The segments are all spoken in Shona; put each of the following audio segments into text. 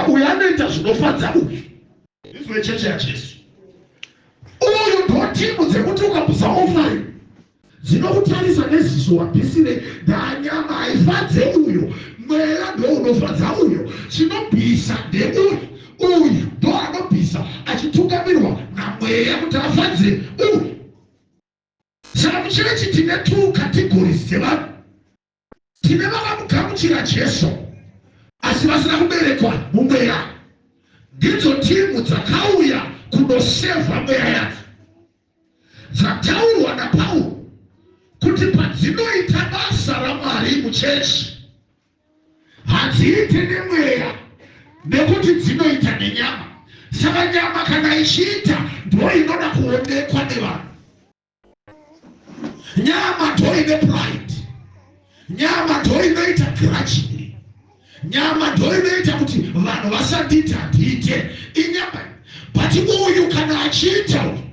Uyu anoita zvinofadza uyu. Izwi recheche yaJesu. Uyu ndodhimu dzekuti ukabusa ofari dzinokutarisa neziso wabhisire ndanyama haifadze uyo mwera ndounofadza uyo chinobhisa ndeuyu uyu ndo anobhisa achitungamirwa namweya kuti afadze uyu saka mucherechi tine two categories dzevanhu tine vakamugamuchira Jesu asi vasina kuberekwa mumweya. Ndidzo timhu dzakauya kunosevha mweya yadzo dzataurwa naPauro kuti padzinoita basa raMwari muchechi hadziite nemweya nekuti dzinoita nenyama. Saka nyama kana ichiita ndoinoda kuonekwa nevanhu. nyama ndoine pride nyama ndoinoita grudgingly nyama ndoinoita kuti vanhu vasandiita ndiite inyama but uyu kana achiita uyu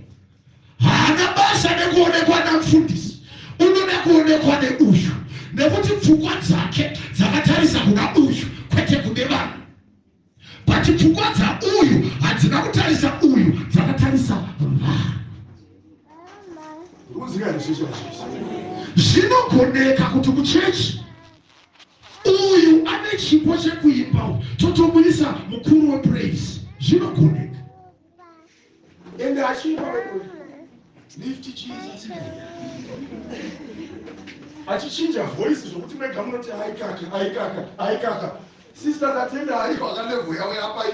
haana basa nekuonekwa namfundisi unoda kuonekwa neuyu nekuti pfungwa dzake dzakatarisa kuna uyu kwete kune vanhu But pfungwa dzauyu hadzina kutarisa uyu dzakatarisa vanhu. Zvinogoneka kuti kuchechi uyu ane chipo chekuimba totomuyisa mukuru wepraise zvinogoneka. and achiimba rekodi lift chiisa tsika achichinja voice zvokuti mega munoti aikaka aikaka aikaka sister tatenda aiko akalevo yavo yapai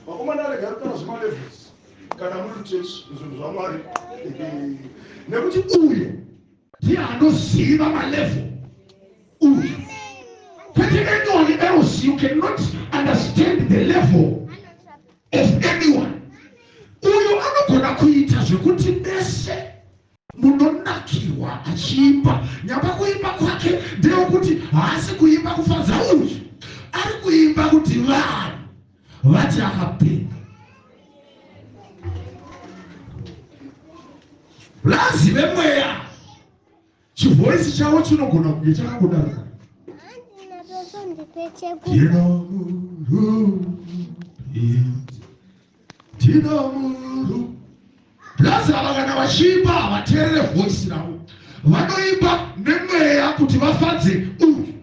vakomana arega kutaura zvemalevels kana muri muchechi zvinhu zvamwari nekuti uyu ndiye anoziva malevel uyu kwete anyone else you cannot understand the level of anyone uyo anogona kuita zvekuti mese munonakirwa achiimba nyamba kuimba kwake ndeyekuti haasi kuimba kufadza uyu ari kuimba kuti vanhu vati akapinda lazive mweya Chivoice chavo chinogona kunge chakangodaro kana. Plus ava kana vachiimba havateerere voice ravo, vanoimba nemweya kuti vafadze uyu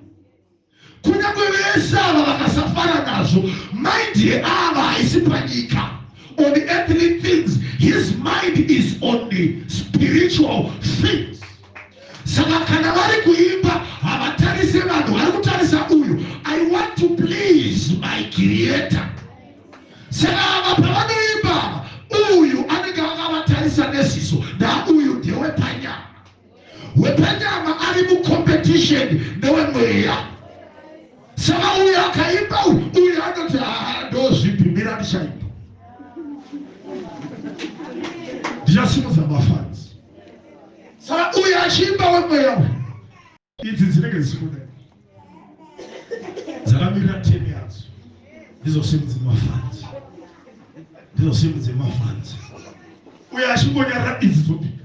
Kunyangwe vese ava vakasafara nazvo, mind yeava haisi panyika. On earthly things, his mind is on the spiritual things. Saka kana vari kuimba havatarise vanhu, vari kutarisa uyu. I want to please my creator. Saka ava pavanoimba ava, uyu anenge akavatarisa neziso, nauyu ndewepanyama. wepanyama ari mucompetition newemweya saka uyo akaimba uyo anoti haa ndozvipimira ndichaimba ndichasimudza mafanzi saka uyo achiimba wemweya uyo idzi dzinenge dzisikuda dzakamirira temi yadzo ndizosimudze mafanzi ndizosimudze mafanzi uyo achingonyarira idzi dzopika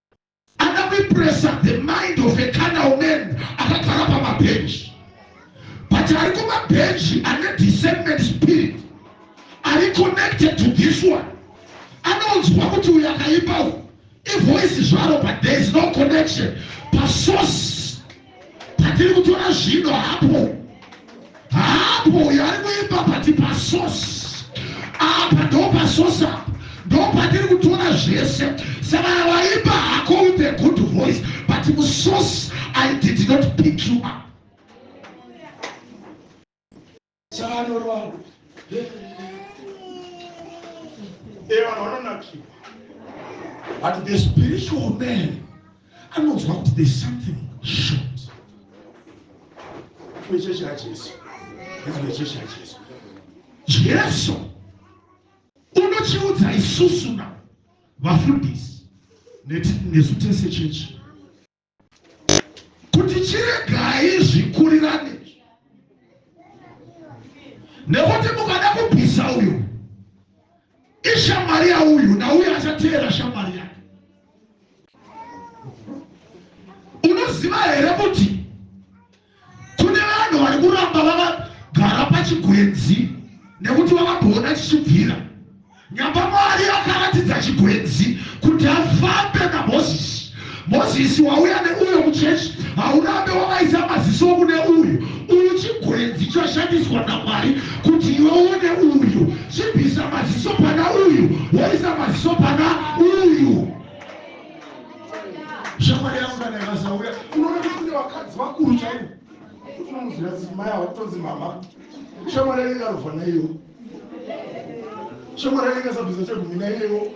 akapepresa the mind of a canal man akagara pamabhenji but ari kumabhenji ane discernment spirit ari connected to this one anonzwa kuti uyo akaipa u ivoice zvaro but there is no connection pasource Patiri kutora zvino hapo hapo yaari kuimba pati pasosi apa ndo pasosi apa ndo patiri kutora zvese saka vaimba hako with a good voice but musosi i did not pick you up chaanoronga ee vanhu vanonakirwa but the spiritual man anonzwa kuti there's something short kuichechi yajesu ichechi yajesu jesu unochiudza isusu na vafundisi nesu tese chechi kuti chiregai zvikurirane nekuti mukada kubvisa uyu ishamwari yauyu nauyu achateera shamwari yake unoziva here kuti Kune vanhu vari kuramba vakagara pachigwenzi nekuti vakabhoona chichibvira. Nyamba Mwari akaratidza chigwenzi kuti afambe naMozisi. Mozisi wauya neuyo muchechi haurambe wakaisa maziso kune uyu uyu chigwenzi chashandiswa namwari kuti iwe uone uyu chibvisa maziso pana uyu woisa maziso pana uyu shamwari yangu kana ikasauya unoona kuti kune vakadzi vakuru chaivo kuti unomuziva dzimai hakutonzi mama shamwari yake ikarovha naiyo shamwari yake ikasabvisa chegumi naiyewo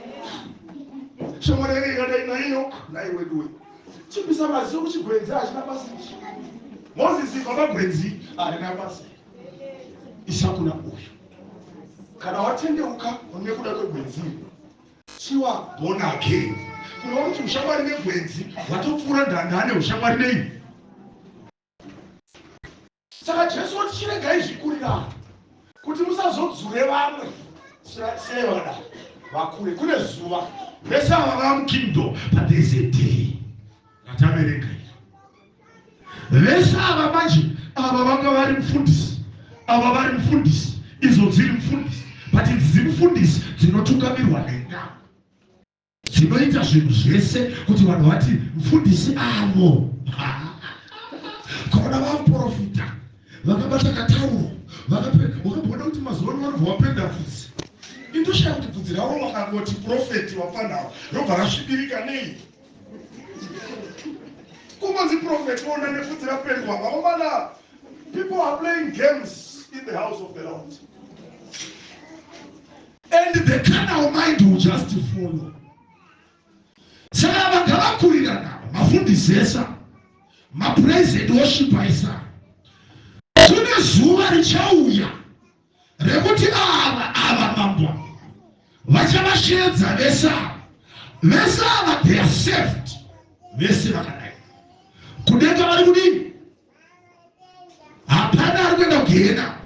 shamwari yake ikadai naiyo naiweduwe chipisa maziso kuchigwenzi hachina basi mozisi vamagwenzi harina basi isakuna uyu kana watendeuka nekuda kwegwenzi iri Siwa born again kureva kuti ushamwari negwenzi hwatopfuura ndanda ane ushamwari nei saka jesu woti chiregai zvikurirana kuti musazodzure vamwe sei vada vakure kune zuva vese ava vamukingdom but there's a day rataverenga Vese ava manje ava vanga vari mfundisi ava vari mfundisi idzo dziri mfundisi but idzi mfundisi dzinotungamirwa nenga dzinoita zvinhu zvese kuti vanhu vati mfundisi avo kaona vaprofita vakabata katauro vakabona kuti mazuva ano vanobva vapenda fudzi indoshaya kuti fudzi ravo vakangoti profeti wafanhawo robva rasvibirika nei Kungonzi prophet ona nefudzi rapendwa vakomana. People are playing games in the house of the Lord. And the carnal mind will just follow. Saka vakavakurirana mafundisesa mapraise and worship aisa. Kune zuva richauya rekuti ava ava mambo vachavasheedza vese ava vese ava they are saved vese vakadai kudenga vari kudini hapana ari kuenda kugehena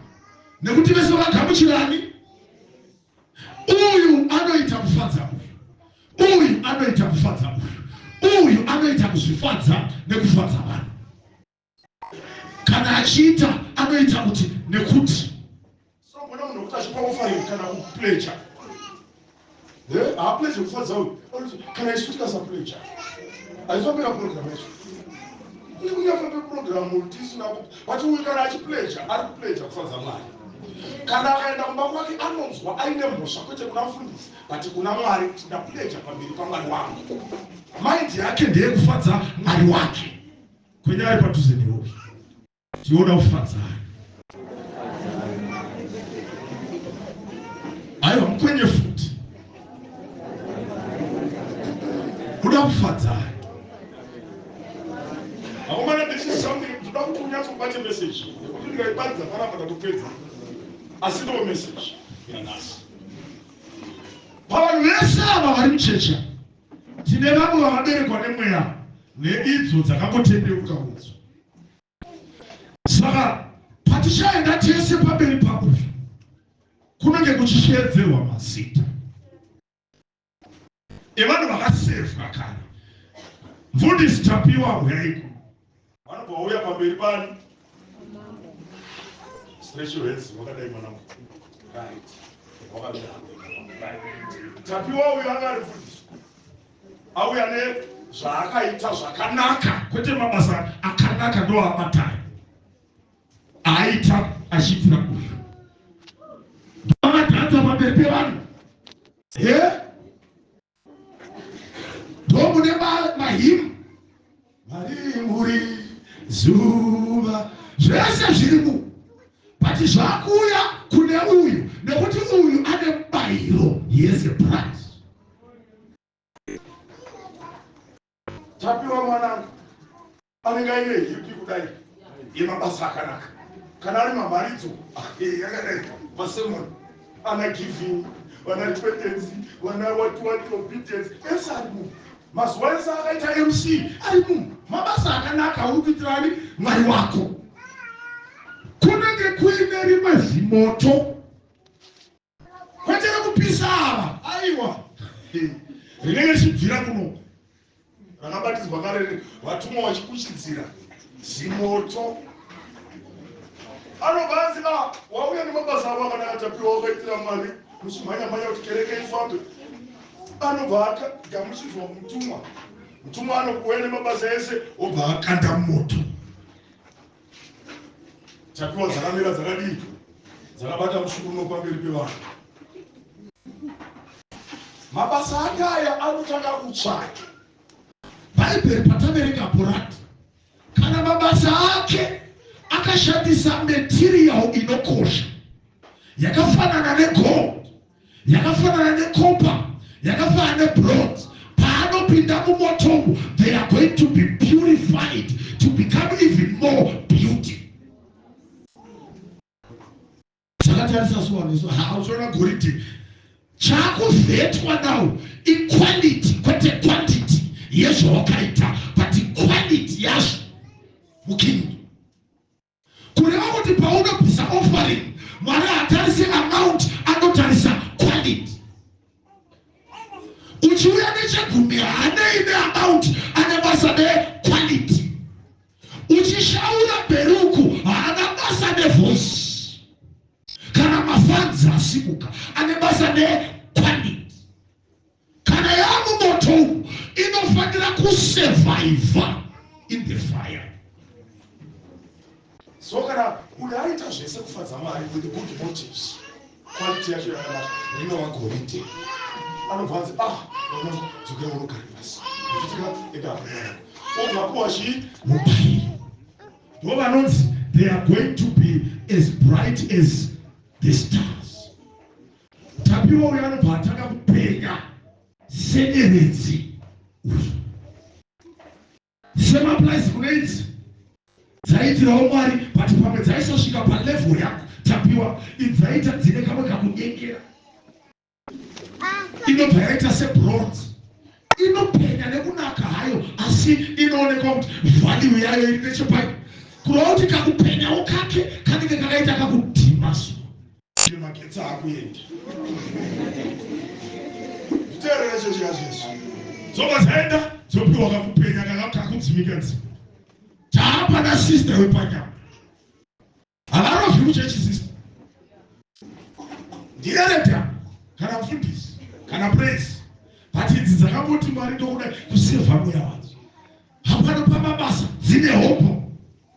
nekuti vese vakagamuchirani uyu anoita kufadza uyu uyu anoita kufadza uyu uyu anoita kuzvifadza nekufadza vanhu Kana achiita anoita kuti nekuti. Sangona munhu wekuti achipa offering kana kupleja haapleje kufadza uyu kana isu tikasapleja aifambira program yacho kune kunyafambe program tisina but uyu kana achipleja ari kupleja kufadza mwari kana akaenda kumba kwake anonzwa aine mhosva kwete kuna mfundisi but kuna mwari kuti ndapleja pamberi pamwari wangu maindi yake ndeyekufadza mwari wake kwenyaya padhuze newe tiona ufadzai aiwa mukwenye futi kuda kufadzai akomana this is something toda kuti unyatsokubate message nekuti ndikaibatidza panapa tatopedza asi ndo message yanhasi pavanhu vese ava vari muchecha Tine vamwe vakaberekwa nemweya neidzo dzakangotendeuka udzo. Saka patichaenda tese pamberi pakufa kunenge kuchisheedzerwa mazita evanhu vakasevha kare. Mfundisi Tapiwa huyai kuno. vanobva vauya pamberi pani special hands wakadai mwana right wakamira tapiwa uyo anga ari mfundisi auya ne zvaakaita zvakanaka kwete mabasa akanaka ndo abatari aita achiitira uyu ndoamadhanza pamberi pevanhu he yeah? ndomune mahimu marimuri zuva zvese zviri mu but zvakuuya kune uyu nekuti uyu ane mubayiro yese price Tapiwa mwanangu anenge aine hipi kudai yemabasa akanaka kana ari mamharidzo yakadai masemoni ana giving vana twetensi vana watiwati obedience ese ari munhu mazuva ese akaita mc ari munhu mabasa akanaka uri kuitirani mwari wako kunenge kuine rimwe zvimoto Kwete rekupisa ava. Aiwa. Rinenge richibvira kuno. Rakabatidzwa kare vatumwa vachikuchidzira zimoto. Anobva anzi a ah, wauya nemabasa avo akanaka tapiwa wakaitira mari muchimhanyamhanya kuti kereke ifambe. Anobva agamuchidzwa mutumwa. Mutumwa anokuuya nemabasa ese obva akanda moto. Tapiwa dzakamira dzakadii? Dzakabata mushukuruno pamberi pevanhu. Mabasa ake aya anotanga kutsvaka. Bhaibheri pataverenga bhurati, kana mabasa ake akashandisa material inokosha yakafanana negold yakafanana necopper yakafanana nebronze paanopinda mumoto umu they are going to be purified to become even more beauty zvakatarisa suwaniso hauchiona goridhe chakuvetwa now equality kwete quantity yezvawakaita but equality yazvo mukingdom kureva kuti paunobvisa offering mwari hatarise amount anotarisa quality uchiuya nechegumi hanei neamount ane basa nequality uchishaura beruku haana basa nevoice kana mafanzi asimuka ane basa nequality Kana yaamumoto umu inofanira kusurvivor in the fire. So kana munhu aita zvese kufadza Mwari with good motives, quality yacho yakanaka rinova goridhe. Anobva anzi ah, dzokera unogara pasi, uchitika enda aaa obvakuwa chii mubairi. Ndo vanonzi they are going to be as bright as the star. Tapiwa uyu anobva atanga kupenya senyeredzi uyu semaplaizi kune idzi dzaiitirawo mwari but pamwe dzaisosvika palevel yako tapiwa idzaita dzine kamwe kakunyengera inobva yaita sebronze inopenya nekunaka hayo asi inoonekwa kuti valiu yayo iri nechepai kurova kuti kakupenyawo kake kanenge kakaita kakudhima so Ine magetsi akuenda. Nditeerere chechi yacho izvo. Dzobva dzaenda dzopiwa kakupenya kakakudzimika nzima. Taapa na sister wepanyama. Havaro zviri kuchechi sister. Ndiyereta kana mfundisi kana praise. But idzi dzakangoti mwari ndokuda kuseva mweya wadzo. Hapana pamabasa dzine hopo.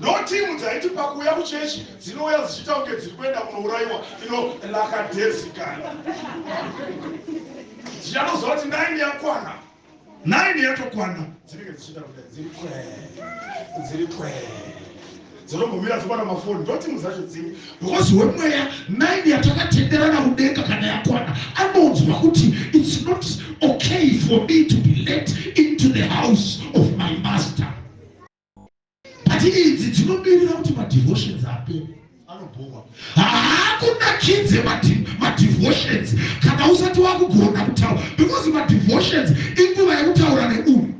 Notimu dzaiti pakuuya kuchechi dzinouya dzichiita kunge dziri kuenda kunourayiwa ino lakadezikana. Dzichatoziva kuti naini yakwana, naini yatokwana, dzinenge dzichiita kunge dziri kwee, dziri kwee dzinombomira dzobata mafoni ndotimu dzacho dzimwe because wemweya naini yatakatenderana kudenga kana yakwana anonzwa kuti its not okay for me to be let into the house of my master but idzi dzinomirira kuti madevotions apere anobhowa haakunakidze madevotions kana usati wakugona kutaura because madevotions inguva yekutaura neuyu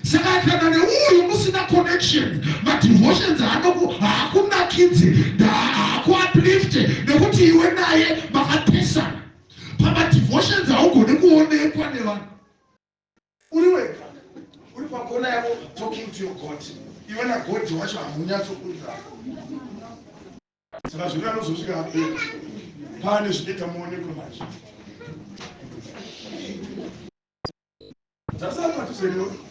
saka kana neuyu musina connection madevotions haakunakidze haakuaplifte nekuti iwe naye makapesana pamadevotions haugone kuonekwa nevanhu Uri wega uri pakona yako talking to your God. Iwe na God wacho hamunyatsokunzana. Saka zvino anozosvika hapo pane zvinoita muonekwe manje. That's not what you said.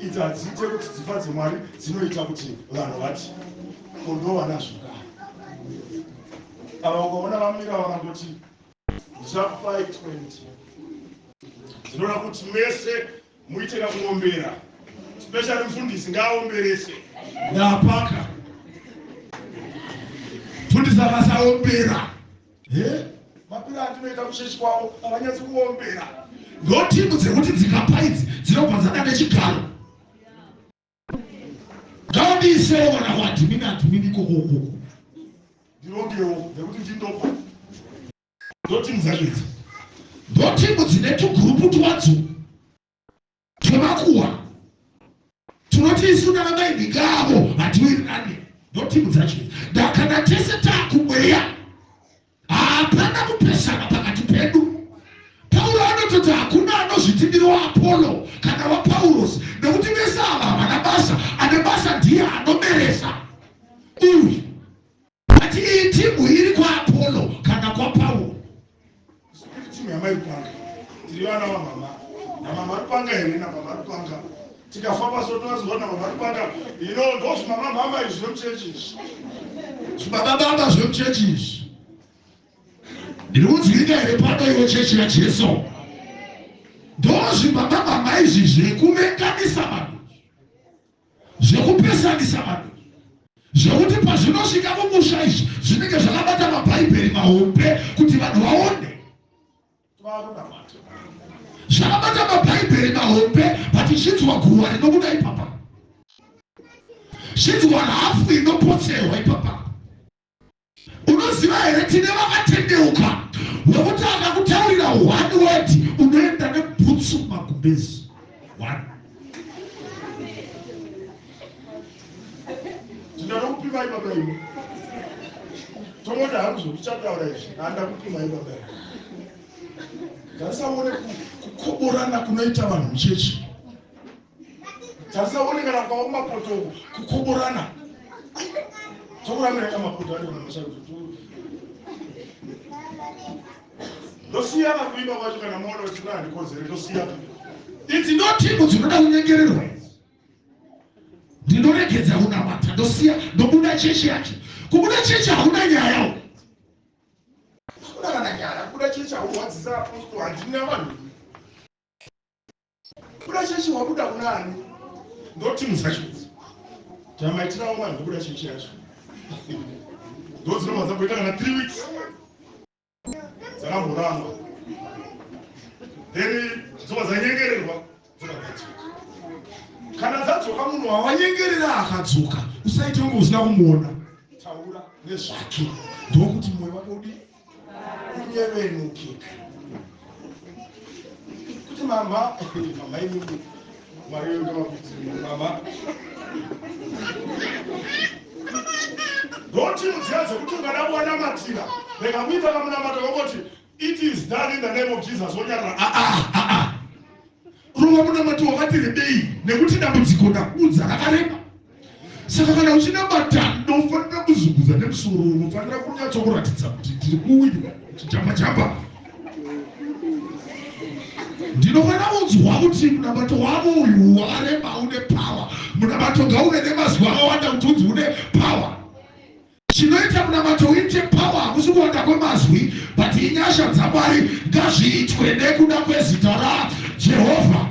Idzi hadziite kuti dzimba dzemwari dzinoita kuti vanhu vati kondovana zvekare ava ukaona vamira vakangoti ndichakupai 20 ndinoda kuti mese muite kakuombera special mfundisi ngaaomberese ndapaka mfundisi akasaombera Hee mapira atinoita kuchechi kwavo havanyatsi kuombera. Ndotimbu dzekuti dzikapa idzi dzinobva dzada nechigaro. Ngaundiisei mwana waadhimini adhimini ikoko ukoko. Ndirongewo nekuti ndindopa. Ndotimbu dzacho idzi. Ndotimbu dzine tugurupu twadzo. Tinomakuwa. Tinoti isu kana mai Migavo hatiwirirane notimu dzacho. Ndakana tese takumweya. Hapana kupesana pakati pedu. Pauro anototi hakuna anozviti ndiri waApollo kana waPaulos nekuti vese ava havana basa. Ane basa ndiye anomeresa. Uyu but iyi timu iri kwaapolo kana kwapauro timu yamaipanga tiri vana vamama namama aripanga here namama aripanga tikafamba so tovaziva namama aripanga ino ndo zvimama mama izvi zvemuchechi izvi zvibaba baba zvemuchechi izvi ndiri kunzwirika here pano iwe chechi yajesu ndozvibaba baba izvi zvekuvenganisa vanhu zvekupesanisa vanhu zvekuti pazvinosvika mumusha izvi zvinenge zvakabata mabhaibheri mahombe kuti vanhu vaone zvakabata mabhaibheri mahombe but zvinzwa guruwa rinobuda ipapa zvinzwa hafu inopotserwa ipapa unoziva here tine vakatendeuka wekuti akakutaurira one word unoenda nebhutsu magumbezi one ndinanokupimai baba imi tomoda hangu zvekuchataura izvi andakupimai baba imi ngatisaone kukoborana kunoita vanhu muchechi Tarisa uone kana kwavo mapoto uko kukuburana. Tokuramira kamapoto ari kumusha kuti ndosiyana kuimba kwacho kana moona kuti kuna handikonzere ndosiyana. Idzi ndotimbo dzinoda kunyengererwa idzi. Ndinoregedza kunamata ndosiya ndobuda chechi yacho. Kubuda chechi hakuna nyaya uko. Hakuna kana nyaya kubuda chechi hakurwadzisa apostol handina vanhu Kubuda chechi wabuda kuna ani? Ndotimu dzacho idzi tamaitirawo vanhu kubuda chechi yacho ndodzinomwa dzamboita kana three weeks dzakamboramba then dzobva dzanyengererwa dzokadzoka kana dzadzoka munhu wawanyengerera akadzoka usaite kunge usina kumuona taura nezvake ndokuti moyo wake udii kunyevenukika kuti mama mama inini mwari wenge vakuti mama ndoti mudziya dzekuti ungada kuwanamatira rega kuita kamunamato vangoti it is done in the name of jesus wonyarira aa ah, ah, ah. rova munamato wakati rebei nekuti dambudziko ndakudza rakareba saka kana uchinamata ndofanira kuzunguza nemusoro unofanira kunyatsa kuratidza kuti ndiri kuwirwa chijamba jamba ndinofanira kunzwa kuti munamato wavo uyu wakareba une pawa munamato ngauve nemazwi akawanda kuti unzi une pawa Chinoita munamato uite power hakusi kuwanda kwemazwi but inyasha dzaMwari ngazviitwe nekuda kwezita ra Jehovha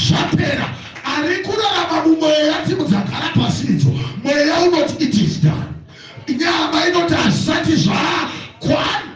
zvapera ari kurarama mumweya dzimudzagara pasi idzo mweya unoti it is done nyama inoti hazvisati zvakwana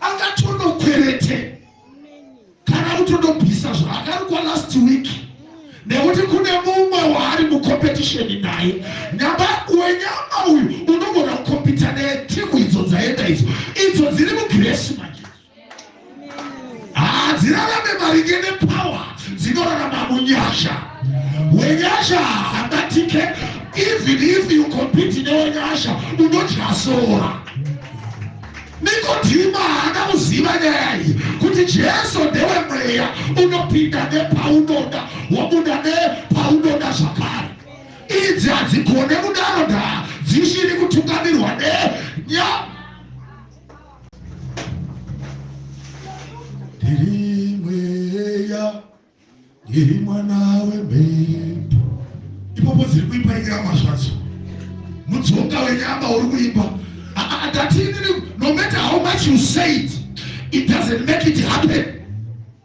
akatonokwerete kana kutondobvisa zvaakarukwa last week nekuti kune mumwe waari mucompetition naye nyamba wenyama uyu unogona kukompita naye timu idzo dzaenda idzo idzo dziri mugresi manje hadzirarame maringe nepower dzinorarama munyasha wenyasha haangatike even if you compete newenyasha unodya sora nikodhima haana kuziva nyaya iyi kuti jesu ndewe mweya unopinda nepaunoda wabuda nepaunoda zvakare idzi hadzigone kudaro ndaa dzisiri kutungamirwa nenya ndiri mweya ndiri mwana wemhepo ipopo dziri kuimba nyama zvadzo mudzoka wenyama uri kuimba adatini ah, ah, ah, no matter how much you say it it doesn't make it happen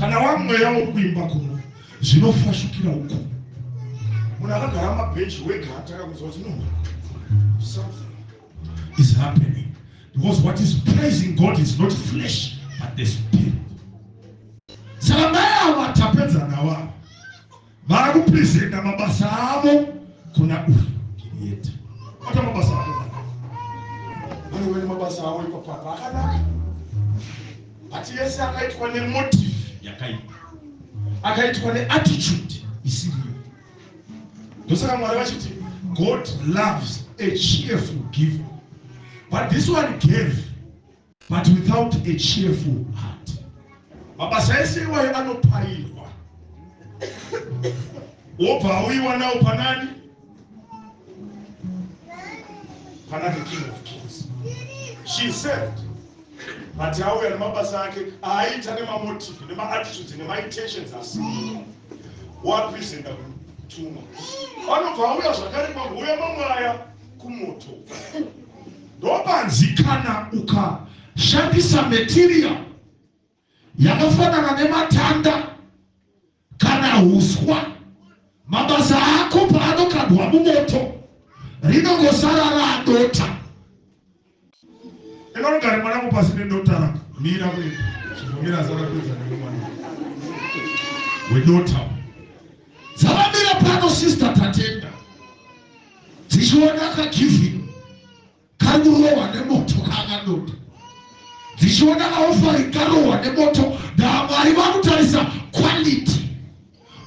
kana wamweya wokuimba kuno zvinofashukira uku munhu akagara mabhenji wega atanga kunzwa kuti no something is happening because what is praising god is not flesh but the spirit saka mai avo atapedza nawo avo vari kupresenta mabasa avo kuna uyu yete ata mabasa avo anowene mabasa avo ipapapa akanaka ati yese akaitwa nemotive yakaipa akaitwa neattitude isiriyo ndosaka mwari vachiti god loves a cheerful giver but this one gave but without a cheerful heart. Mabasa ese iwayo anopairwa wobva auyiwa nawo panani? Pana the king of kings. She served but auya nemabasa ake aaita nemamotive nemaattitudes nemaintentions asi wapresenta kutumwa vanobva auya zvakare kwambuya mamwaya kumoto Ndopanzi kana ukashandisa material yakafanana nematanda kana huswa, mabasa ako paanokandwa mumoto rinongosara radota. Enda unogare mwana wangu pasi nedota rako. Mira kuenda. Chivomira asakapedza nemwana wedota. Dzavamira pano sister Tatenda dzichiona kagivhini kari kurohwa nemoto kaangandoda dzichiona kaofari karohwa nemoto ndamwari vakutarisa quality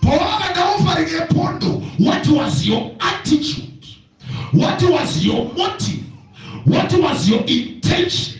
pawanga ndaofari nepondo what was your attitude what was your motive what was your intention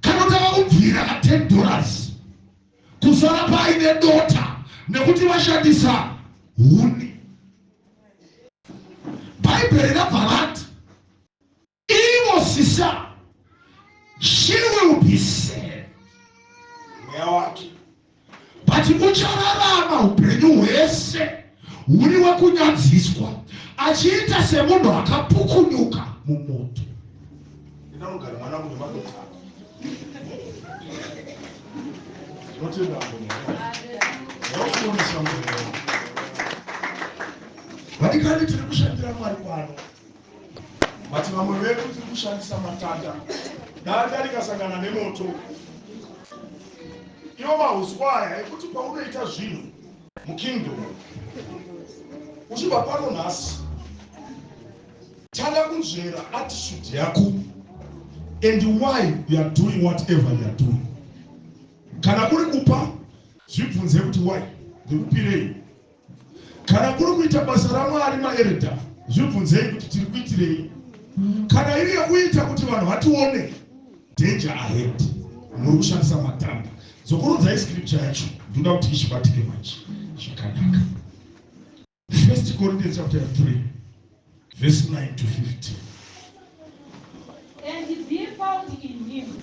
Kana tava kubvira ka 10 dollars kusara paine dota nekuti vashandisa huni. Bhaibheri rabva rati ivo sisa she will be saved. Mweya wake but uchararama upenyu hwese huri wekunyadziswa achiita semunhu akapukunyuka mumoto vadikani tiri kushandira mwari kwano But vamwe vedu tiri kushandisa matanda. Danda rikasangana nemoto. Iwo mahuswa aya ekuti paunoita zvinhu mukingdom uchibva pano nhasi tanga kunzvera attitude yako and why you are doing whatever you are doing. Kana kuri kupa zvibvunze kuti why ndikupirei Kana kuri kuita basa raMwari maereda, zvibvunzei kuti tiri kuitirei. Kana iri yekuita kuti vanhu vatione, danger ahead. Muri kushandisa matanda. Dzokorodzayi scripture yacho. Ndoda kuti ichibatike manje. Zvakanaka. First Corinthians chapter 3 verse 9 to 15. And be found in him.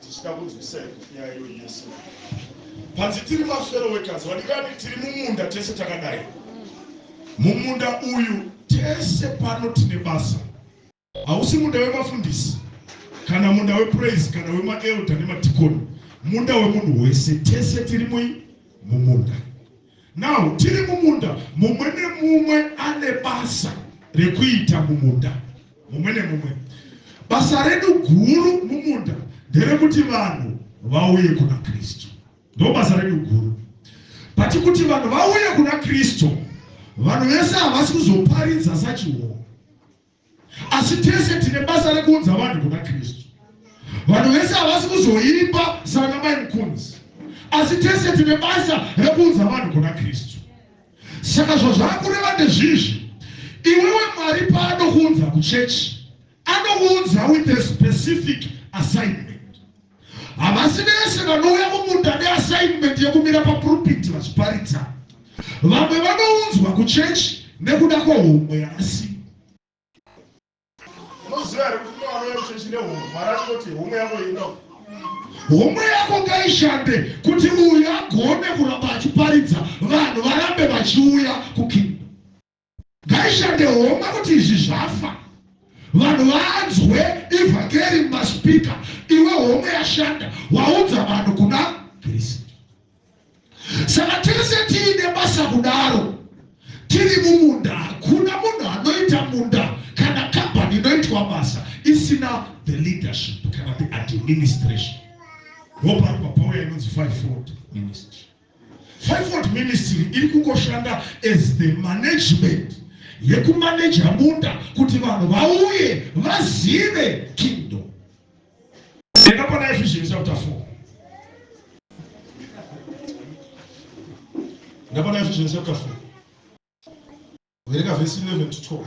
Tichida kunzwisai kopi yayo Yesu panzi tiri mafero wekazi vadikani tiri mumunda tese takadai mumunda uyu tese pano tine basa hausi munda wemafundisi kana munda wepraise kana wemaelda nemadhikoni munda wemunhu wese tese tiri mui mumunda Now tiri mumunda mumwe nemumwe ane basa rekuita mumunda mumwe nemumwe. Basa redu guru mumunda nderekuti vanhu vauye kuna Kristu. Ndo basa redu guru. But kuti vanhu vauye kuna Kristu, vanhu vese havasi kuzoparidza sachiwo. Asi tese tine basa rekuunza vanhu kuna Kristu. Vanhu vese havasi kuzoimba sana mai Mkunzi, asi tese tine basa rekuunza vanhu kuna Kristu. Saka zvazvakureva ndezvizvi, iwewe Mwari paanokuunza kuchechi, anokuunza with a specific assignment. Havasi vese vanouya mumunda neassignment yekumira papurupiti vachiparidza. Vamwe vanounzwa kuchechi nekuda kwehomwe yavasi. Unoziva here kuti unouya kuchechi nehomwe, Mwari anoti homwe yako ino. Homwe yako ngaishande kuti uyu agone kuramba achiparidza vanhu varambe vachiuya kukingdom. Ngaishande homa kuti izvi zvafa. Vanhu vanzwe ivhakeri mumaspika iwe homwe yashanda waudza vanhu kuna Kristu. Saka tese tiine basa kudaro tiri mumunda hakuna munhu anoita munda kana kambani inoitwa basa isina the leadership kana the administration ropa ropa pauya inonzi five fold ministry Fivefold Ministry iri kungoshanda as the management yekumaneja munda kuti vanhu vauye vazive kingdom. Enda pana Ephesians chapter 4. Enda pana Ephesians chapter 4. Vereka verse 11 to 12.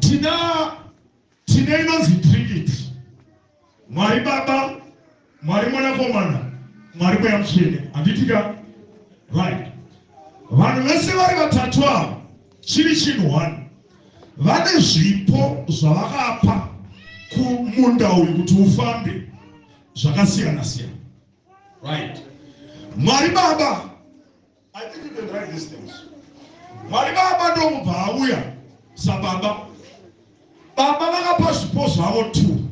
tina tine inonzi trinity mwari baba mwari mwanakomana mwari mweya mutsvene handitika right vanhu vese vari vatatu ava chiri chinhu one vane zvipo zvavakapa kumunda uyu kuti ufambe zvakasiyana siyana right mwari baba I didn't even write these things. Mwari baba ndomubva auya sababa. Baba vakapa zvipo zvavo two.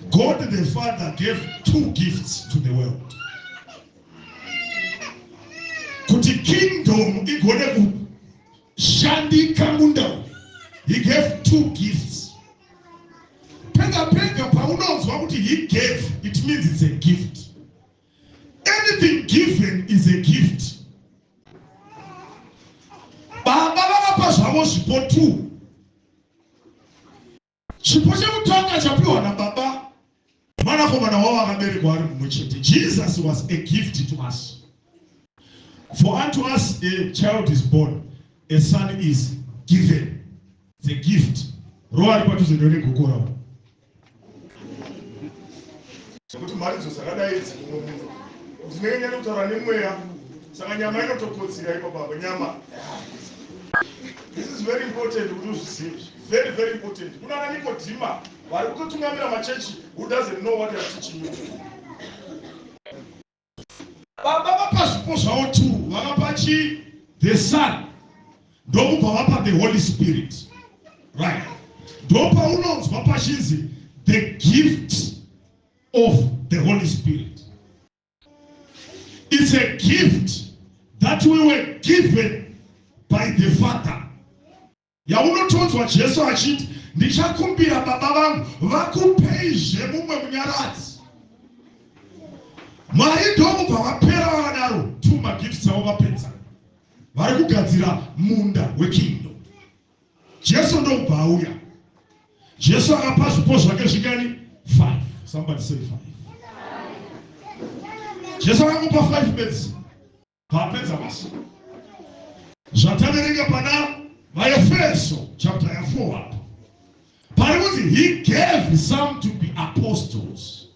God the Father gave two gifts to the world. Kuti kingdom igone kushandika munda uyu. He gave two gifts. Pega pega paunonzwa kuti he gave, it means it's a gift. Anything given is a gift. Baba vakapa zvavo zvipo two. Chipo chekutanga chapiwa nababa mwanakomana wavo akaberekwa ari mumwe chete. Jesus was a gift to us. For unto us a child is born, a son is given. It's a gift. Roari padhuze ndone gokora. Zvekuti mharidzo dzakadai idzi mumwe munhu dzinenge nyane kutaura nemweya saka nyama inotokotsira ipapo apa nyama This is very important kuti uzvizive very very important kunana Nikodhima vari kutotungamira machechi who doesn't know what they are teaching you Baba vapa zvipo zvavo two, vakapa chii? The Son ndokubva vapa the Holy Spirit. Right. Ndopaunonzwa pachinzi the gift of the Holy Spirit. It's a gift that we were given by the Father. yaunotonzwa Jesu achiti, Ndichakumbira Baba vangu vakupeizve mumwe munyaradzi. Mwari ndokubva vapera vavadaro two magifts avo vapedza. Vari kugadzira munda wekingdom. Jesu ndokubva auya. Jesu akapa zvipo zvake zvingani? Five. Somebody say five. Jesu akakupa five bedzi. paapedza mashoko zvataverenga pana vaefeso chapter ya 4 apo pari kuti he gave some to be apostles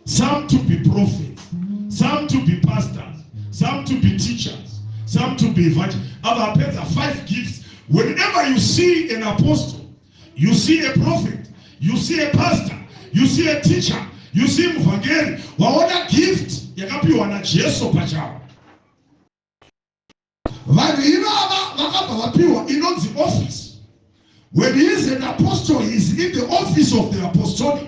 some to be prophets some to be pastors some to be teachers some to be evangel ava apedza five gifts whenever you see an apostle You see a prophet, you see a pastor, you see a teacher, you see muvhangeri, waona gift yakapiwa naJesu pachawo. Vanhu ivava vakabva vapiwa inonzi office. When he is an apostle, he is in the office of the apostolic.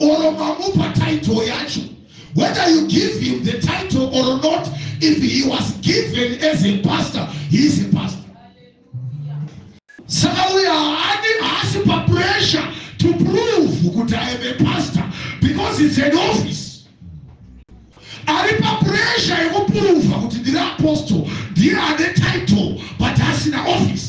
or mamupa title yacho whether you give him the title or not if he was given as a pastor he is a pastor saka uyo haadi haasi papressure to prove kuti i am a pastor because its an office ari papressure yekuprova kuti ndiri apostle ndiye ane title but asina office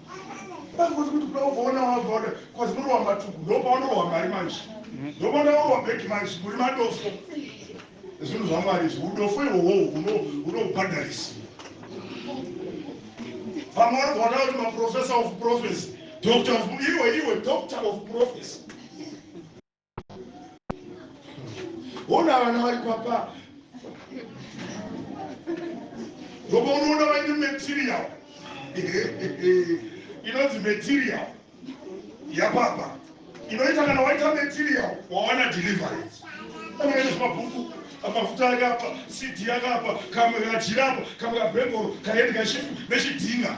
Bazi kuti kuda ukaona wabva wada kwazi muri wamatuku ndopaunorwa mari manje ndopauda kurwa bheki manje muri madofo zvinhu zvamwari izvi udofo ihoho hunobhadharisiwa vamwe vari kuona kuti maprofessor of prophecy doctor of iwe iwe doctor of prophecy ona vana vari kwapa ngoba unoona vaine material inonzi material yapapa inoita kana waita material wawana deliverance akaita zvemabhuku mafuta ake apa cd ake apa kamwe kajira apa kamwe kabhebhoro kaendi kashifu nechidhinga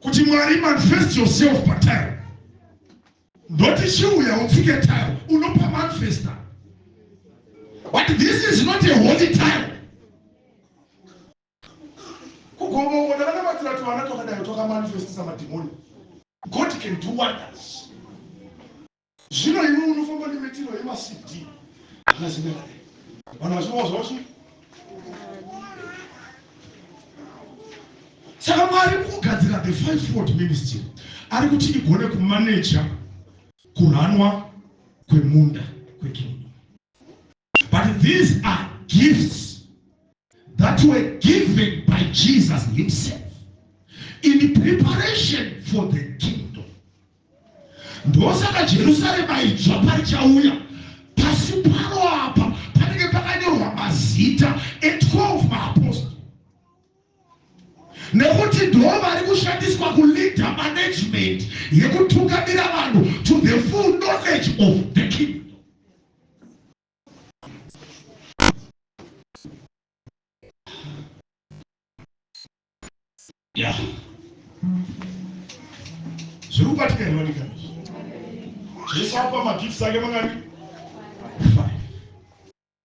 kuti mwari manifest yourself patile ndoti chiuya utsike tile unopa manifesta but this is not a holy tile kugomongo ndakanamatira tuvana twakadayo twakamanifestisa madhimoni god can do wonders Zvino iwe unofamba nemitiro yemaCD akazenderana vanhu vachirova zvavo chii? Saka Mwari kugadzira the fivefold ministry ari kuti igone kumaneja kuranwa kwemunda kwekingdom. But these are gifts that were given by Jesus himself in preparation for the kingdom. Ndosaka Jerusalem aidzva parichauya pasi paro apa panenge pakanyorwa mazita e12 maapostoli nekuti ndo vari kushandiswa kuleader management yekutungamira vanhu to the full knowledge of the kingdom Yeah. zviri kubatika hinonika jesu apa magifts ake mangani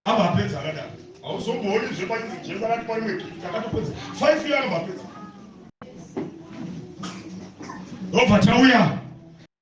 ava apedza akadaro hauzombooni zvepainzi jesu akati parimwe gift akatopedza five year anobva apedza obva tauya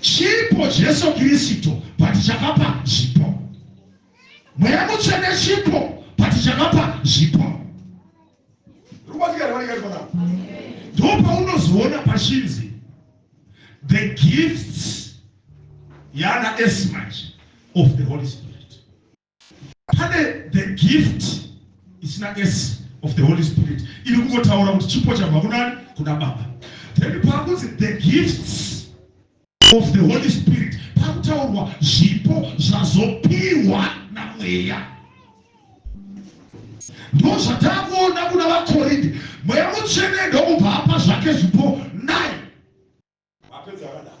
Chipo Jesu Kristu but chakapa zvipo. Mweya mutsvene chipo but chakapa zvipo. Ndopaunozoona pachinzi the gifts yana esmach of the Holy Spirit. Pane the gift isina s of the Holy Spirit iri kungotaura kuti chipo chabva kunani kuna Baba. Then pakunzi the gifts of the Holy Spirit pakutaurwa zvipo zvazopiwa namweya ndo zvatakuona kuna vakorinde mweya mutsvene ndokubva apa zvake zvipo nai vapedza vanaa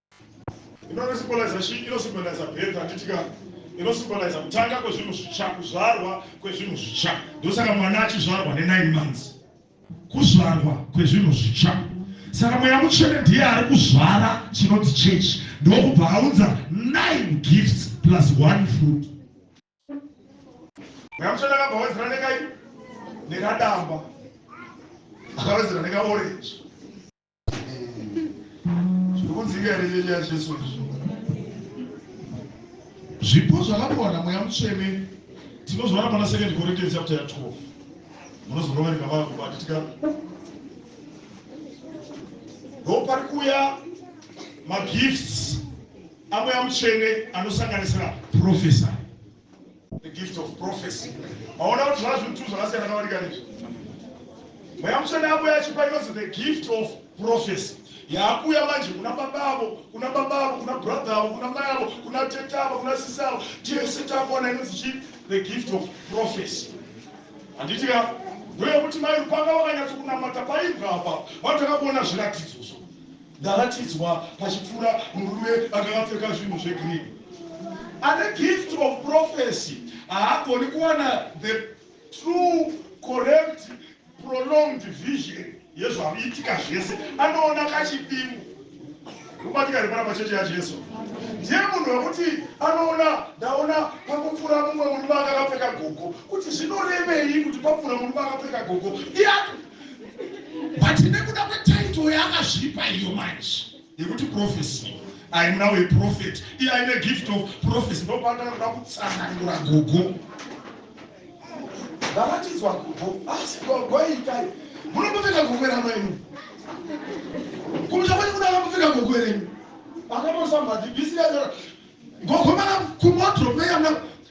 Inoresipolaiza chii? Inosimbolaiza birth, handiti ka? Inosimbolaiza kutanga kwezvinhu zvitsva, kuzvarwa kwezvinhu zvitsva. Ndosaka mwana achizvarwa nenine months, kuzvarwa kwezvinhu zvitsva. Saka mweya mutsvene ndiye ari kuzvara chinonzi chechi, ndokubva aunza nine gifts plus one fruit. Mweya mutsvene akabva awedzera nekai? Nekadamba, akawedzera nekaorenji zvekudzika ine nyenya yacho izvozvo zvipo zvakapiwa namweya mutsvene tinozviona pana second corinthians chapter ya 12 munozonovereka vakubatika ndo pari kuuya magifts amweya mutsvene anosanganisira profesa The gift of prophecy. Maona kuti zvazvo two zvakasiyana nawanika nezvi. Mweya mutsvene abuya achipa inonzi the gift of prophecy. Yaakuya manje kuna baba avo, kuna baba avo, kuna brother avo, kuna mai avo, kuna tete avo, kuna sisi avo. Tese takuona inonzi chi the gift of prophecy. Handiti ka? Ndoyekuti mai Lupanga vakanyatso kunamata paibva apa. Vanhu takakuona zviratidzo zvo. Ndaratidzwa pachipfuura murume akanga apfeka zvinhu zvegreen ane gift of prophecy haagoni kuwana the true correct prolonged vision yezvaviitika zvese anoona kachidimbu kubatika ripara pachechi yajesu ndiye munhu wekuti anoona ndaona pakupfuura mumwe murume akakapfeka gogo kuti zvinorevei kuti papfuura murume akapfeka gogo iye but nekuda kwetitle yaakazvipa iyo manje yekuti prophecy i am now a prophet iye aine gift of prophecy ndopaandakuda kutsanangura gogo vavatidzwa gogo asi gogo itai munombopfeka gogo rama inu kumusha kwani kuda vambopfeka gogo renyu vakanosambati bisira gogo mara kumoto meyana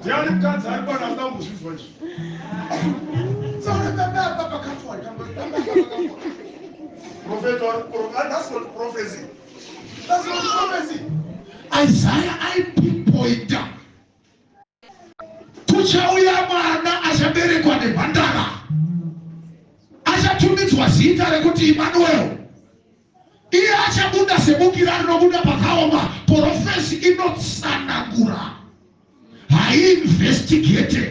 ndiani mukadzi ari kwana anoda kumbozvinzwa izvi isaya aipinpointa kuchauya mwana achaberekwa nemhandara achatumidzwa zita rekuti imanuel Iye achabuda sebukira rinobuda pakaoma. Porofesi inotsanangura, haiinvestigate.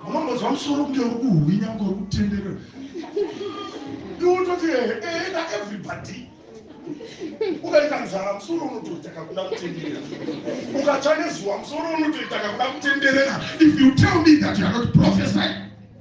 Unongonzwa musoro kunge uri kuhwinha, kunge uri kutenderera. Ndiwototi ehe, ehe na everybody. ukaita nzara musoro unotoita kakuda kutenderera ukatsva nezuva musoro unotoita kakuda kutenderera if you tell me that you are not prophesy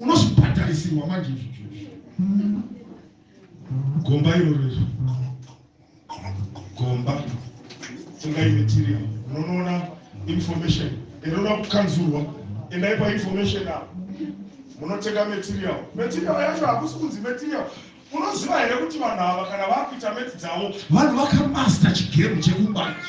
unozvibhadharisirwa manje izvozvo gomba irorero gomba ingai material unonoona information inoda kukanzurwa endai painformation apo munotenga material material yacho hakusi kunzi material unoziva here kuti vanhu ava kana vakuita meti dzavo vanhu vakamasta chigemu chekubanja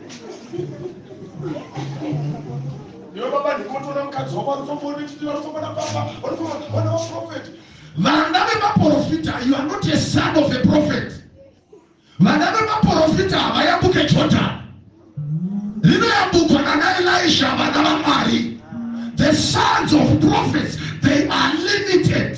vana vemaporofita you are not a son of a prophet vana vemaporofita havayambuke jordan rinoyambukwa nana elisha vana vamwari the sons of prophets they are limited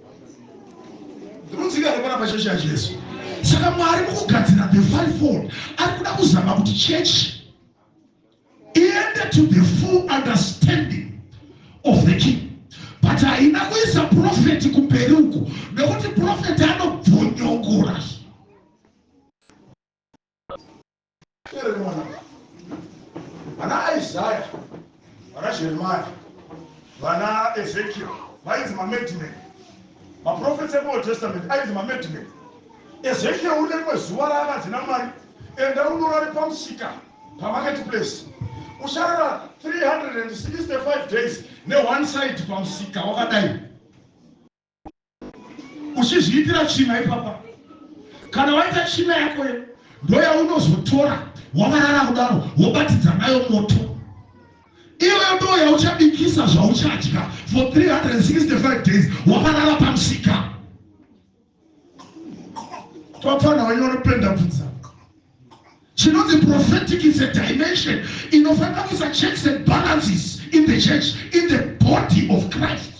Ndinoziva kupona pachechi yaJesu. Saka Mwari mukugadzira the fivefold ari kuda kuzama kuti chechi iende to the full understanding of the king but haina kuisa profeti kumberi uko nekuti profeti anobvonyongora Here mwana vana Isaiah vana Jeremiah vana Ezekiel vainzi mamadman maprofets ekuold testament ainzi mamadman Ezekiel une rimwe zuva raakanzi namwari enda unorari pamusika pamarket place usharara 365 days neone side pamusika wakadai uchizviitira tsvina ipapa kana waita tsvina yako yo ndoyaunozotora wavarara kudaro wobatidza nayo moto iyoyo ndo yauchabikisa zvauchadya for 365 days wavarara pamusika topfana wenye unopenda pfudza chinonzi prophetic is a dimension inofanira kuisa checks and balances in the church in the body of christ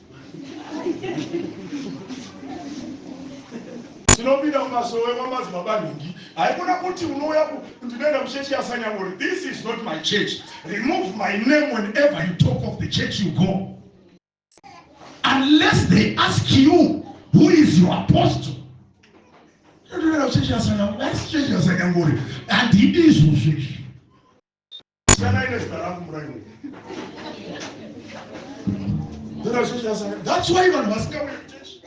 Tinopinda mumasowe kwamadzibaba nhingi haikona kuti unouya ku ndinoenda kuchechi yasanyangori this is not my church remove my name whenever you talk of the church you go unless they ask you who is your apostle ndinoenda kuchechi yasanyangori asi chechi yasanyangori handidi izvozvo izvi Siyanai nezita rangu muraini. Tenda chechi yasara. That's why vanhu vasingauye kuchechi.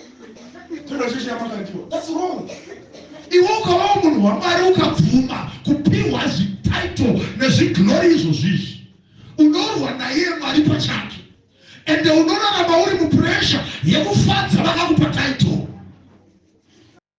Tenda chechi yamakandiwa. That's wrong. Iwe ukavawo munhu waMwari ukabvuma kupiwa zvititle nezviglori izvo zvizvi. Unorwa naiye Mwari pachake. Ende unorarama uri mupressure yekufadza vakakupa title.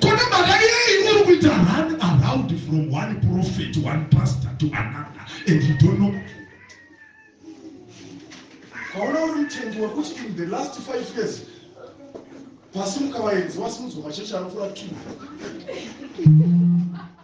kune mhaka yei uri kuita run around from one prophet one pastor to another and you don't know kaona uri mutendi wekuti in the last five years vasimuka vaenzi vasimudzwa machechi anokura two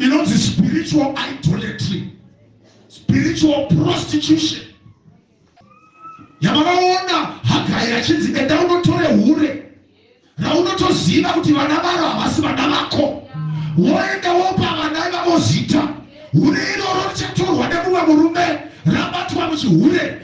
inonzi spiritual idolatry spiritual prostitution yamakaona hagari achinzi enda unotore hure raunotoziva kuti vana varo havasi vana vako woenda wopa vana ivavo zita hure iroro richatorwa nemumwe murume rabatwa muchihure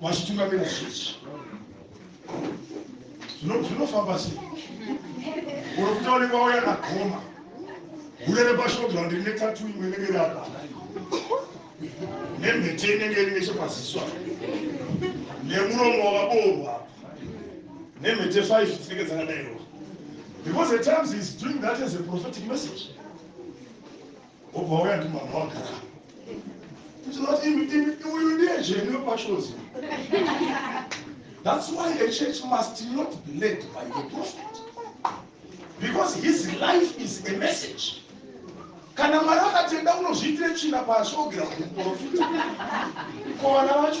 vachitungamira chechi zvinofamba sei uri kutaurikwa wauya nagoma hure repashoto randi rine tatu imwe inenge iri apa nemhete inenge iri nechepaziso apa nemuromo wakaboorwa nemhete five dzinenge dzakadairwa because the times is doing that as a prophetic message wobva wauya ndi mwana wagara ndinoti imi imi uyu ndiye zvenyu wepachozi that's why a church must not be led by the prophet because his life is a message kana mwari akatenda unozviitire china pasi ogera kumuporofita kovana vacho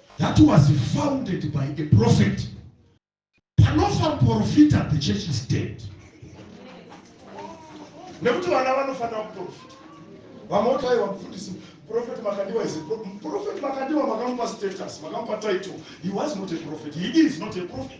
that was founded by a prophet panofa muporofita the church is dead nekuti vana vanofanira kuporofita vamwe kuti aiwa mufundisi prophet makandiwa is prophet makandiwa makamupa status makamupa title he was not a prophet he is not a prophet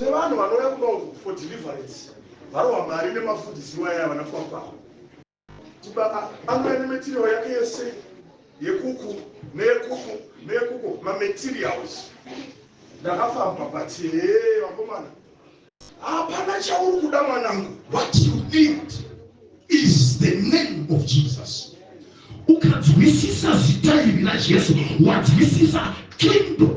tine vanhu vanouya kuno for deliverance varohwa mari nemafundidzirwa yaya vana kwakwavo tibaba anouya nemetirio yake yese yekuku neyekuku neyekuku mamaterials ndakafamba but hee vakomana hapana chauri kuda mwanangu what you need is the name of jesus ukanzwisisa zita iri rajesu wanzwisisa kingdom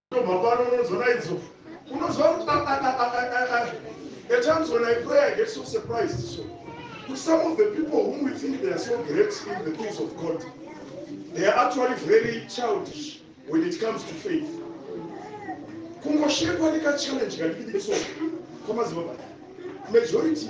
tobva pano unodzona idzo unoziva kuti at times when i pray i get so surprised so kuti some of the people whom we think they are so great in the things of god they are actually very childish when it comes to faith kungoshekwa nekachallenge kadikidiki so kwamaziva baa majority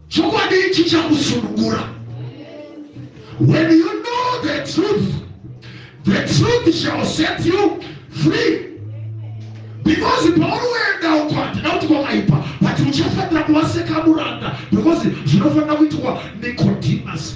Chokwadi chichakusunungura. When you know the truth, the truth shall set you free. because paunoenda uko handina kuti kwakaipa but uchafanira kuva sekamuranda because zvinofanira kuitwa nicodemus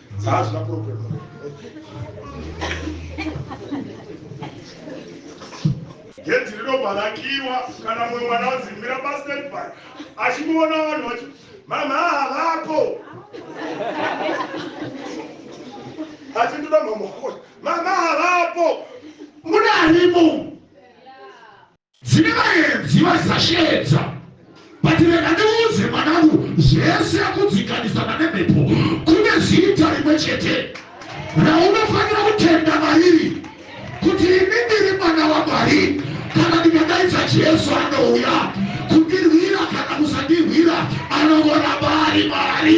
Zazva problem. Gedhi rinobva rakiwa kana mumwe mwana wazimbira pastanby achikuona vanhu vachi mama havako achindoda mama mama havako munanimu Dzine vaenzi vaisasheedza but rega ndiudze mwanangu zvese kudzikanizana nemhepo kune zita rimwe chete raunofanira kutenda mariri kuti ini ndiri mwana wamwari kana ndikadaidza jesu anouya kundirwira kana kusandirwira anongoramba ari mwari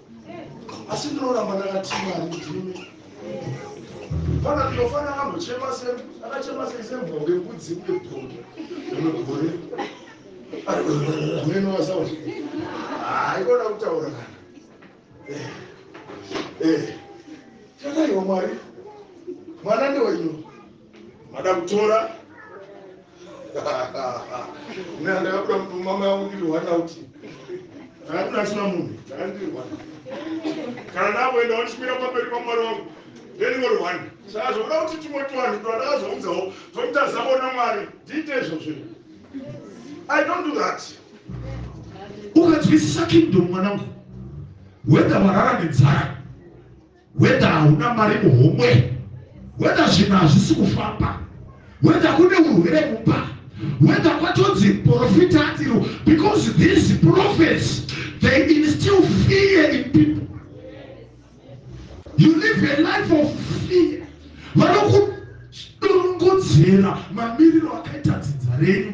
asi ndinoramba ndakati mwari ndimi fana ndinofana akambochema se akachema sei sembonge mbudzi uye bonge rinogore amene wasawa haikona kutaura kana eh, eh. tataiwa mwari mwana ndewenyu Madam Tora Nina ndakabuda mtu mama yangu ndiri one out ndakabuda asina munhu ndakandiri one kana ndakuenda wachimira pamberi pamwari wangu ndendingori one saka zvokuda kuti tumwe tuvanhu twandakazounzawo twomutazavo namwari ndiite izvo zvinhu i don't do that ukadzwisisa kingdom mwanangu whether warara nenzara whether hauna mari muhomwe whether zvinhu hazvisi kufamba whether kune urwere mumba whether kwatonzi profita atiro because these prophets they instill fear in people you live a life of fear vanokudorongodzera mamiriro akaita dzinza renyu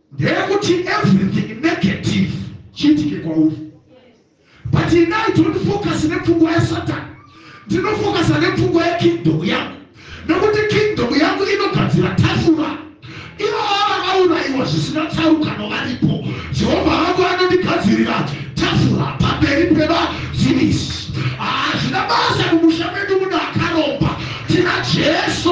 Ndeyekuti everything negative chiitike kwauri. But ini I don't focus nepfungwa yasatan. Ndinofocusa nepfungwa yekingdom yangu. Nekuti kingdom yangu inogadzira tafura. Ivo vava vakauraiwa zvisina tsarukano varipo. Jehovha vangu anondigadzirira tafura pamberi pevazivisi. Hazvina basa mumusha medu muno akaromba. Tina Jesu.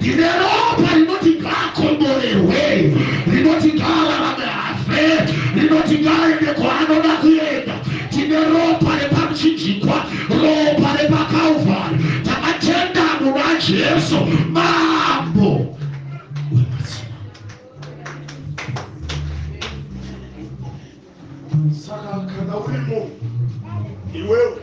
Ndine ropa rinoti ngaakomborerwe, rinoti ngaararame hafe, rinoti ngaaende kwaanoda kuenda. Tine ropa repamuchinjikwa, ropa repaKalvari. Takatenda muna Jesu mambo wemadzimambo. Saka kana uri munhu iwewe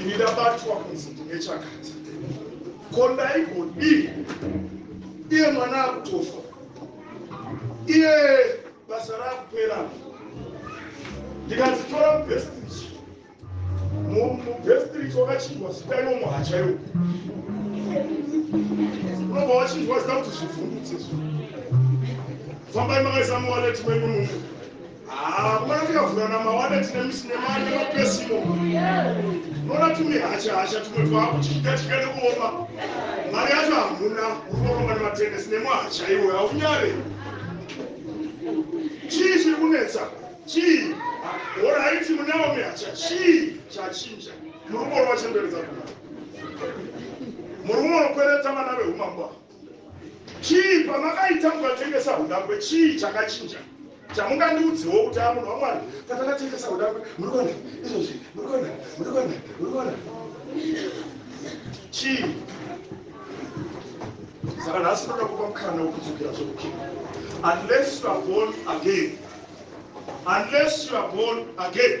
Ini ndabatwa kunzi ndine chakati ko ndaigodii iye mwana akutofa iye basa raakupera ndikadzitora mubhestirich mubhestirich wakachinjwa zita iwo muhacha iwo unobva wachinjwa zita kuti zvivhundutse zvo fambai makaisa muwaleti menyu mumu Haa mwana tikavhura namawada tine misinema nemapesimo unoona tumihacha hacha tumwe twaakuchidya chidya nekuoma mari yacho hamuna unoromba nematenesi nemwahacha iwe haunyare chii chiri kunetsa chii horaiti munewo mihacha chii chachinja murume uri wachendoredza kuna murume unokwereta vana veumambo Chii pamakaita mukatengesa hudangwe chii chakachinja chamungandiudzewo kuti amunhu wamwari patatatengesa hudangwe murikuona izvozvi murikuona murikuona murikuona chii saka nhasi ndoda kupa mukana wekudzokera zvokukira unless you are born again unless you are born again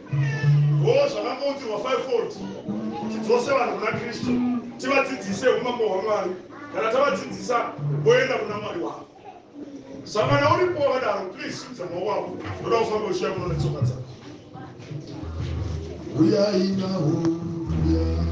Hoo zvakangoutirwa fivefold tidzose vanhu kuna Kristu tivadzidzise umambo hwaMwari kana tavadzidzisa voenda kuna Mwari wavo sangana uripo wakadaro please simudza maoko wavo ndoda kufamba uchiya muno netsoka dzako uyai nawo uyai